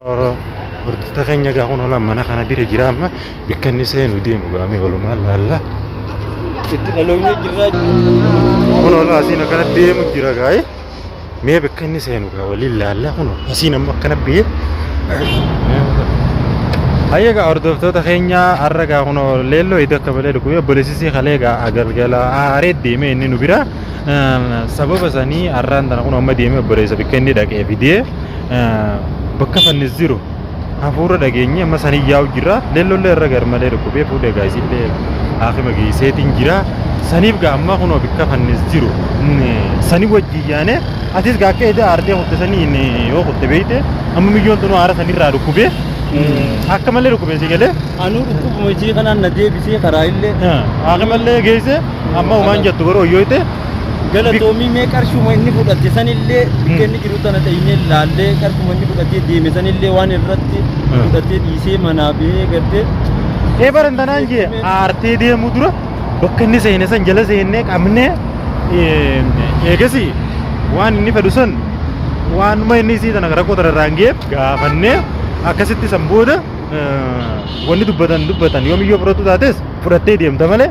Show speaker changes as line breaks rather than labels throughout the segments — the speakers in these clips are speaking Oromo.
Hordoftoota keenya egaa kun olan mana kana bira jira amma bakka inni seenu deemu gaamee walumaan laalla. Itti
dhaloonni jirraa. Kun
olan asiin akkana deemu jira gaa'e. mee bakka inni seenu gaa waliin laallaa kun asiin amma akkana biyee Hayya gaa hordoftoota keenya har'a gaa kun leelloo iddoo akka malee dhukkubee obboleessisii kalee gaa galgala aaree deemee inni nu bira sababa sanii har'aan tana kun amma deemee obboleessa bakka inni dhaqee fidee bakka fannis jiru hafuura dhageenye amma san iyyaa'u jira leellollee irra garmalee dhukkubee fuudhee gaa isillee haakima geesseetiin jira saniif gaa ammaa kunoo bikka fannis jiru sani wajji yaane atis gaa akka edaa aartee kutte saniin yoo kutte beeyte amma miyyoon tunoo aara sanirraa dhukkubee akka malee dhukkubee si galee Anuu dhukkubuma isii
kanaan na deebisee karaa illee haakimallee
geesse amma umaan jettu garuu hoyyooyte Galatoomii
mee qarshuma inni fudhate sanillee bakka inni jiru tana dheenyee laallee qarshuma inni fudhatee deeme sanillee waan irratti fudhatee dhiisee manaa ba'ee gartee Ee baran tanaan jee
aartee deemuu dura bakka inni seene san jala seennee qabnee ee, eegasi waan inni fedhu san waanuma inni isii tana rakkoo tana irraan ga'eef gaafannee akkasitti san booda ee, wanni dubbatan dubbatan yoomiyyoo fudhattu taates fudhattee deemta malee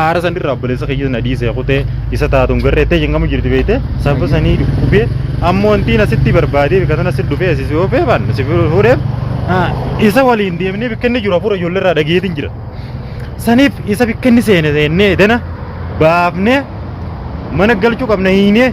Aara san irraa obboleessa keenya na dhiisee kutee isa taatuun garree ta'e hin gamu jirti beekte sababa sanii dhukkubee ammoo wantiin asitti barbaadee bika sana asitti dhufee asii oofee baan si fuudhee isa waliin deemnee bikka inni jiru hafuura ijoollee irraa dhageetiin jira. Saniif isa bikka inni seene seennee dana baafnee mana galchuu qabna hiinee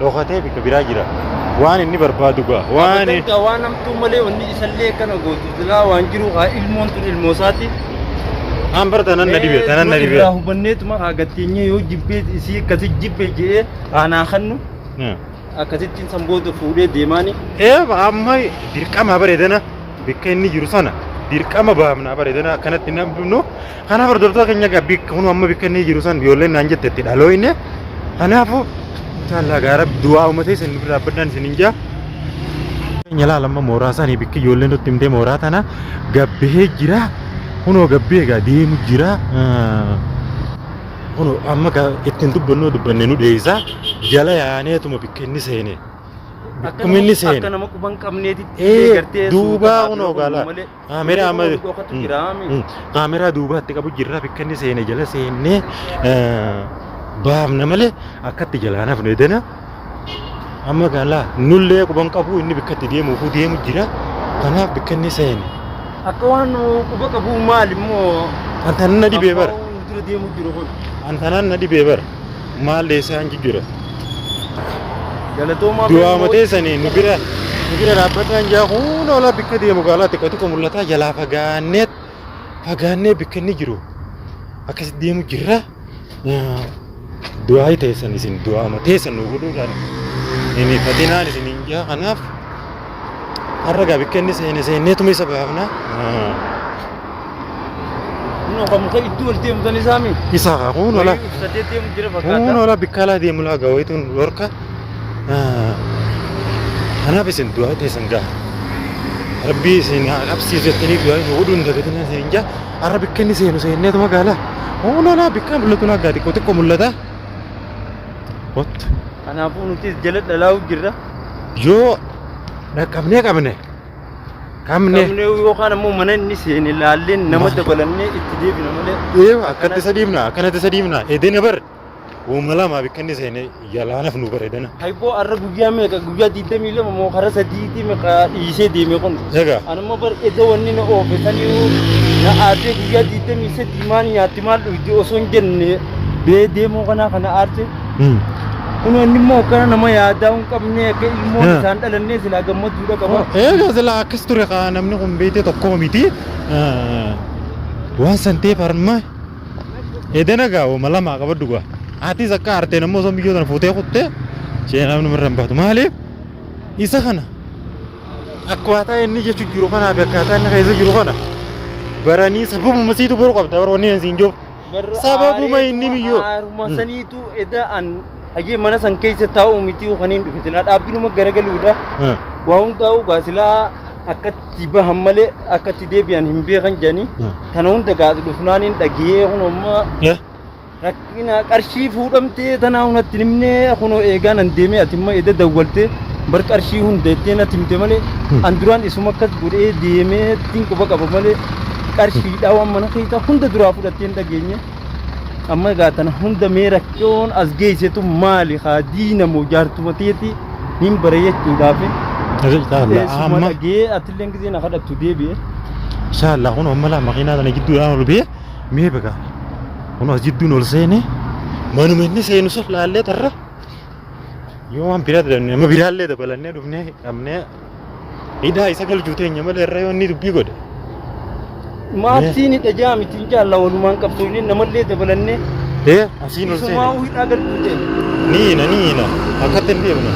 Dhokatee bika biraa jira. Waan inni barbaadu ga'a. Waan Abadan gaa waan hamtuu malee
wanni isallee akkana gootu silaa waan jiru haa ilmoon tun ilmoo isaati. aan bara
tanan na dhibee tanan na Irraa dhibee. hubanneetuma
haa gatteenyee yoo jibbee isii akkasi jibbe je'ee aanaa kannu akkasittiin san booda fuudhee deemaani. Ee amma
dirqama bareedana bakka inni jiru sana dirqama baafna bareedana akkanatti hin hambifnu Kanaaf hordoftoota keenya egaa bikka kun amma bikka inni jiru san ijoolleen naan jette itti dhalooyne. Kanaafuu inshaallah egaa rabbi du'aa uumatee isin dura dhaabbadhaan isin hin jaa. Keenya laala amma mooraa isaanii bikki ijoolleen nutti himtee mooraa tana gabbihee jira. Kunoo gabbihee egaa deemu jira. Kunoo amma egaa ittiin dubbannoo dubbanne nu dheessa. Jala yaaneetuma bikka inni seene. Bakkuma inni seene. Akka nama quban qabneetitti
Ee, gartee duubaa suuta kunoo haadhoo gaala.
malee. Kaameraa Seena amma kun dhokatu Mm, jiraa mi? mm. kaameraa duubaatti qabu jirra bakka inni seene jala seennee eh, baafna malee akkatti jalaan hafne dana amma gaalaa nullee quban qabu inni bakka itti deemuufuu deemu jira kanaaf bakka inni seene Akka waan
quba qabu maal immoo antanaan na dhibee
bara Abbaa waan dura deemu jiru
kun. antanaan na dhibee
bara maal deessaan jijjiirra Galatoomaa
Du'aa matee sanii nu
bira nu bira dhaabbadhaan jaa huun oolaa bikka deemu gaalaa xiqqoo xiqqoo mul'ataa jalaa fagaannee fagaannee bikka inni jiru akkas deemu jirra. Yaa, Du'aa ta'e san isin du'aa matee san nu godhuudhaan hin hifatinaan isin hin jaa kanaaf. Har'a gaa bikka inni seene seenneetuma isa baafna.
Kun akka muka iddoo ol deemu tan isaa miti. Isa haa kun ola. Wayii
ibsadee deemu jira
Kun fakkaata. ola bikka alaa deemu
laa gaa wayituun dhorka. Kanaaf isin du'aa teessan gaa. Rabbii isin haa qabsiisu jettanii du'aa hin godhuun dagatina isin hin jaa. Har'a bikka inni seenu seenneetuma gaala. Kun ola bikka mul'atu naa gaa xiqqoo xiqqoo mul'ata. Wattu.
Kanaafuu nutis jala dhalaa'u
jirra. Yoo
dhaqqabnee
qabne qabne Qabnee yookaan ammoo
mana inni seene laalleen nama dabalannee itti deebina malee. ee akkatti isa dhiibna
akkanatti isa dhiibna edena bar uuma lamaaf akkanni seene yalaanaf nu bar edena. Hayboo har'a guyyaa
meeqa guyyaa digdamii lama moo karaa sadiitii meeqa dhiisee deeme kun. Egaa Anuma bar
edda wanni
na oofe saniyyuu na aartee guyyaa digdamii sadii maal nyaatti maal dhugdi osoo hin jenne bee deemuu kanaa kana aarte. Hmm. Kunoo inni immoo akkana nama yaadaa hin qabne akka ilmoon Haa. isaan dhalannee silaa gammachuudha qaba. Eega sila akkas
ture kaa namni kun beekte tokko miti. Ah, Waan san ta'eef harma edana gaa wama lama qabaddu gaa. Atis akka aarteen ammoo osoo miyyoo tana fuutee kutte ishee namni irra hin baatu. Maaliif isa kana akkaataa inni jechuun jiru kanaa fi akkaataa inni keessa jiru kana baranii sababuma siitu baruu qabda warra wanni siin jiru. Barra Sababuma aaree inni tuma miyyoo. aaruma Mm. saniitu
eda an hajee mana san keessa taa'u miti kaniin dhufe silaa dhaabbiinuma garagaluudha. Hmm. Waa hundaa'u gaa silaa akkatti bahan malee akkatti deebi'an hin beekan jedhanii Mm. kana hunda gaas dhufnaan hin dhagiyee kun amma Eh? rakkina qarshii fuudhamtee tanaa hunatti himnee kunoo eegaan an deemee ati immoo eda dawwaltee bar qarshii hunda jettee natti himte malee an duraan isuma akkas godhee deemee ittiin quba qaba malee qarshiidhaa waan mana keessaa hunda duraa fudhattee hin dhageenye amma egaa tana hunda mee rakkoon as geessetu maali haa diina moo jaartuma teeti hin bare jechuudhaaf amma dhagee atillee gisee na kadhattu deebi'e inshallah
kun amma laa makiinaa tana jidduudhaan ol bee mee beka kun as jidduun ol seene manuma inni seenu sun laallee tarra yoo waan biraa dabalannee amma biraallee dabalannee dhufnee dhabnee Idaa isa galchuu teenya malee irra yoo inni dubbii godhe.
Maabsiin hidha jaa miti hin jaalla walumaan qabsoofne namallee dabalannee Ee asiin ol
isumaa seene. hidhaa galchuu
teenya. Ni hina ni hina
akkatti hin deemne.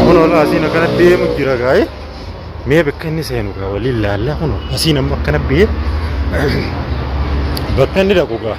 Kun ol asiin akkana deemu jira gaa'e. Mee bakka inni seenu gaa waliin laallaa kun asiin amma akkana biyee bakka inni dhaqu gaa.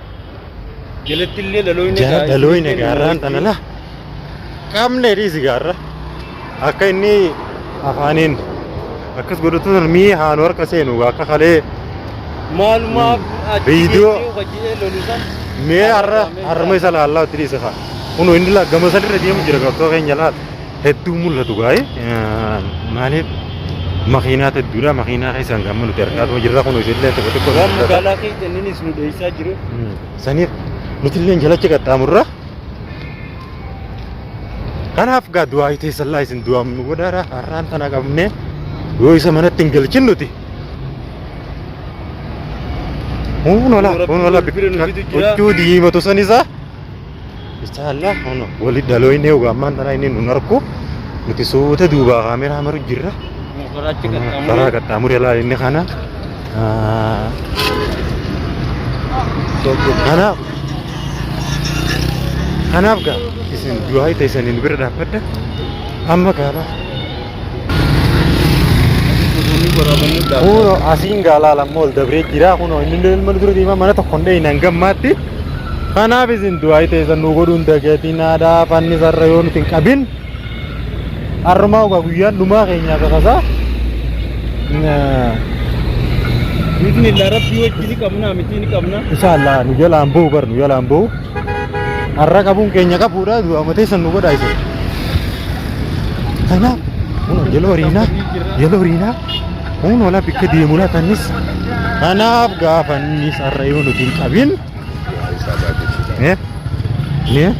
Jalatti
illee dhaloonni jara egaa dhalooyne isinii kenna
gaarraan tana wajjin. la qabne dhiisi gaarra akka inni afaaniin akkas godhatu sun mii haanu harka seenu akka kalee Maalumaaf
achi Viidiyoo.
geessee hojjetee lolu san. mee har'a harma isa laallaa itti dhiisa kaa kunu inni la gama sadi irra deemu jira qabsoo keenya laal hedduu mul'atu gaa'e maaliif makiinaat hedduudha makiinaa keessaan gamma nuti argaatuma jirra kun isillee tokko tokko waan magaalaa keessa inninis
nu dheessaa jiru saniif
nutillee jalacha qaxxaamurra kanaaf gaa du'aa teessallaa isin du'aam nu godhaara har'aan tana qabne yoo isa manatti hin galchin nuti Kun ola kun ola huccuu diimatu san isaa Bichaallah ono wali daloine uga ammaan tanaa inni nun arku nuti suuta duubaa kaameraa maru jirra. Motoraachi Karaa qaxxaamuree qaxxaamuree laa inni kana. Ah, Kanaaf kanaaf gaa isin du'aa ta'e isaniin bira dhaabbadha. Amma gaabaa. Kuno asiin gaalaa lamma ol dabree jira kuno inni illee ilma dura deemaa mana tokko hin dheeyne hangam maatti. Kanaaf isin du'aayi teessan nu godhuun dagatiinaadhaa fanni sarra yoo nuti hin qabin. Har'umaa ogaa guyyaan dhumaa keenyaa kakasaa. Biifni
illee rabbii wajjin ni qabna miti ni qabna. Inshallah nu jalaan
ba'u bar nu jalaan ba'u. har'a qabuun keenya qabuudha du'a mateessan nu godhaa isa kanaaf kunoo yeloo riinaa yeloo riinaa kunoo laa bikka deemu laatannis kanaaf gaafannis har'a yoo nuti hin qabin eh eh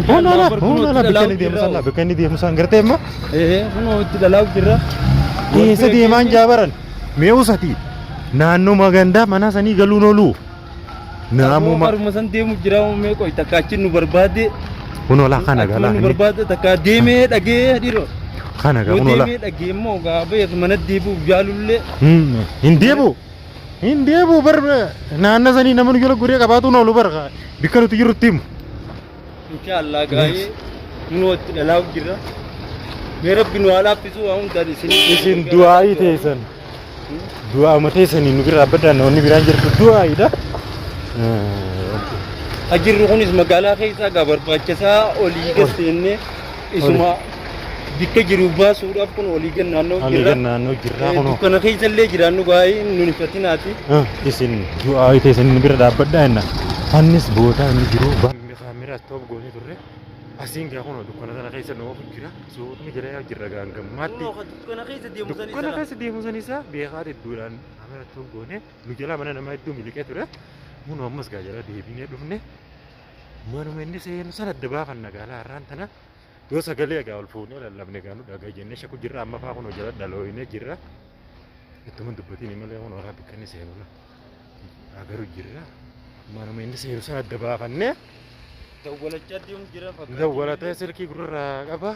kunoo laa kunoo laa bikka inni deemu sallaa bikka inni deemu san gartee immoo Ee, kunoo itti
dhalaa'u jirra. Eessa
deemaan jaabaran mee usatii naannoo magandaa manaa sanii galuun ooluu Naamuma. Haruma san deemu
jira mee qoy takka achi nu barbaade. Kunoo laa kana
galaa Nu inni. barbaade takka
deemee dhagee dhiroo. Kana gaa Yoo kunoo
laa. deemee dhagee immoo gaa beeku
mana deebi'uuf jaalullee. Hmm, Hin deebu.
Hin deebu bar naanna sanii namni jala guree qabaatu noolu bar bikka nuti jirrutti himu. Insha
Allah gaa'ee kunoo itti dhalaa'u jirra. Mee rabbi nu haa laaffisuu waan hundaan isin. Isin du'aa'ii
teessan. Du'aa'uma teessanii nu bira dhaabbataa namoonni biraan jirtu du'aa'iidha.
Ajirri kunis magaalaa keessaa gaa barbaachisaa olii gad seennee. Isuma bikka jiru baasuudhaaf kun olii gad naannoo Olii jirra. gad naannoo jirra
Eh, kunoo. Dukkana keessa illee jiraannu
baay'ee nun hifatinaati. Ah, isin
du'aa wayita isin bira dhaabbadhaa jenna. Fannis boodaa inni jiru balmi kaamera stop goonee turre. Asiin gaa kunoo dukkana sana keessa nu oofu jira. Suutni jira yaa jirra gaa hanga ammaatti. Kunoo kan dukkana keessa deemu
san Dukkana isa. keessa deemu san isaa
beekaa hedduudhaan kaamera stop goonee nu jalaa mana namaa hedduu miliqee ture. Kunoo ammas gaa jala deebinee dhufne. manuma inni seenu sana adda baafanna gaalaa har'aan tana yoo sagalee egaa ol fuunee lallabne egaa nu dhagaa jennee shaku jirra amma faa kun hojjala dhalooyinee jirra ittuma dubbatiin malee kun horaa bakka inni seenu na agaru jirra manuma inni seenu sana adda baafannee Dawwalachaa
deemu jira fakkaatu. dawwalatee silkii gurra
qaba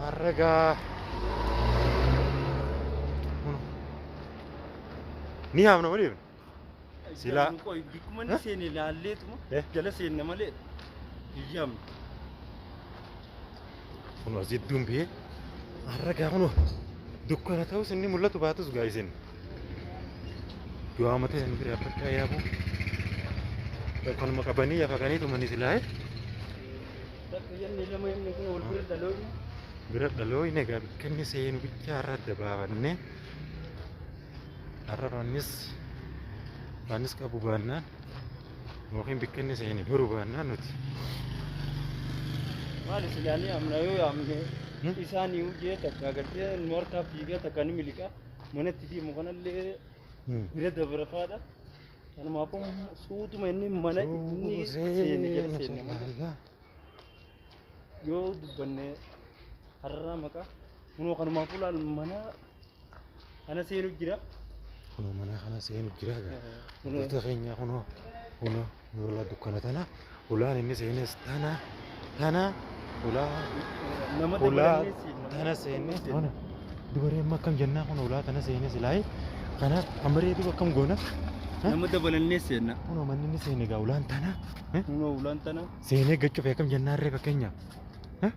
harragaa ni haamna waliif Silaa- Silaa. Qoy bikkuma ni
seene ilaalleetuma Eh. jala seenna malee biyyaam.
Kunoo as jidduun biyee har'a gaa kunoo dukkana ta'us inni mul'atu baatus gaa isin. Du'aa matee isin bira abbakkaa yaabuu. Kanuma qabanii yafaqanii tumanii silaa'e.
Bakka yanni lama yanni kun wal bira dhaloonni. Bira dhalooyne
gaa bikkanni seenu bichaa irra adda baafannee. Har'a raannis raannis qabu baannaan yookiin bakka inni seene beeku baannaan nuti
Maali silaanii amna yoo yaamne Hmm? isaan yoo jee takka agartee nu harkaa fiigaa takka ni miliqa manatti deemu kanallee hmm, bira dabarafaadha. Kanumaafuu suutuma inni mana inni seene jala seenne malee. Subhanallah. yoo dubbanne hararraa maqaa kunoo kanumaaf ulaal mana kana seenu jira. Kunoo mana
kana seenu jira. Wantoota keenya kunoo kunoo ulaa dukkana tana ulaan inni seenes tana tana ulaa Nama ulaa dabalannees nama tana seenne dabalannees kun dubaree amma akkam jennaa kun ulaa tana seenne silaayi kana amma reetu akkam goona nama dabalannees
seenna. kunoo manni inni seenne
gaa ulaan tana. Kunoo ulaan
tana. Seenee gachuuf akkam
jennaan ree fakkeenyaaf. Eh?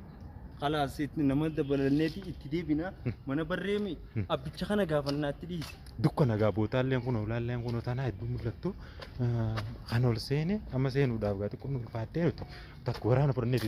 Kalaas itti nama dabalanneeti itti deebina mana barreemi abbicha kana gaafannaatti dhiise. Dukka nagaa bootaalleen
kun olaalleen kun tanaa hedduu mul'attu eh, kan ol seene amma seenuudhaaf gaa xiqqoon ulfaattee nuti bakka waraana fudhannee itti